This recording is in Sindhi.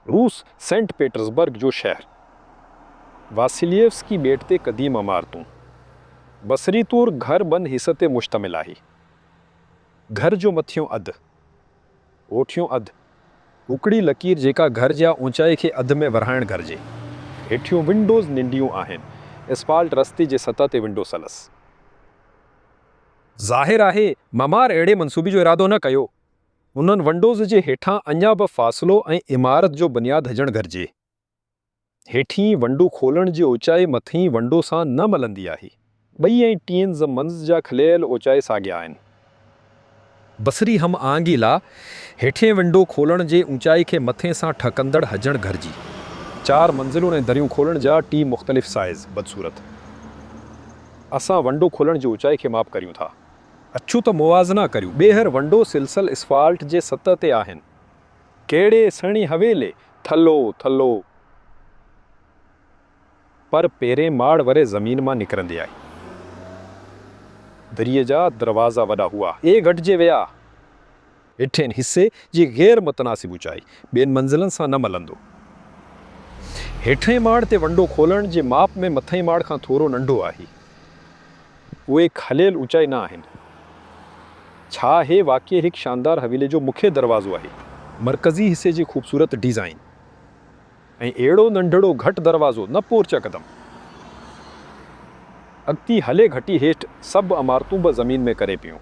روس، سينٽ پيٽرز برگ جو شهر، واسيلييوسڪي ٻيٽ تي قديم عمارتون، بصري طور گهر ٻن حصن تي مشتمل آهي. گهر جو مٿيون اڌ، هوٺيون اڌ، هوڪڙي لڪير جيڪا گهر جي اوچائي کي اڌ ۾ ورهائڻ گهرجي، هيٺيون ونڊوز ننڍيون آهن، اسفالٽ رستي جي سطح تي ونڊو سلس. ظاهر آهي معمار اهڙي منصوبي جو ارادو نه ڪيو. انهن ونڊوز جي هيٺان اڃا به فاصلو ۽ عمارت جو بنياد هجڻ گهرجي. هيٺين ونڊو کولڻ جي اوچائي مٿئين ونڊو سان نه ملندي آهي. ٻئي ۽ ٽين ز منز جا کليل اوچائي ساڳيا آهن. بصري هم آهنگي لا هيٺين ونڊو کولڻ جي اوچائي کي مٿئين سان ٺهڪندڙ هجڻ گهرجي. چار منزلون ۽ دريون کولڻ جا ٽي مختلف سائيز بدصورت اسان ونڊو کولڻ جي اوچائي کي ماپ ڪريون ٿا. اچو ته موازنا ڪريون. ٻيهر ونڊو سلسل اسفالٽ جي سطح تي آهن. ڪهڙي سهڻي حويلي. ٿلهو ٿلهو پر پهرين ماڙ وري زمين مان نڪرندي آئي. دريء جا دروازا وڏا هئا. اهي گهٽجي ويا. هيٺئين حصي جي غير متناسب اوچائي ٻين منزلن سان نه ملندو. هيٺئين ماڙ تي ونڊو کولڻ جي ماپ ۾ مٿئين ماڙ کان ٿورو ننڍو آهي. اهي کليل اوچائي نه آهن. ڇا هي واقعي هڪ شاندار حويلي جو مکيه دروازو آهي. مرڪزي حصي جي خوبصورت ڊيزائين ۽ اهڙو ننڍڙو گهٽ دروازو نه پورچ قدم اڳتي هلي گهٽي هيٺ سڀ عمارتون به زمين ۾ ڪري پيون.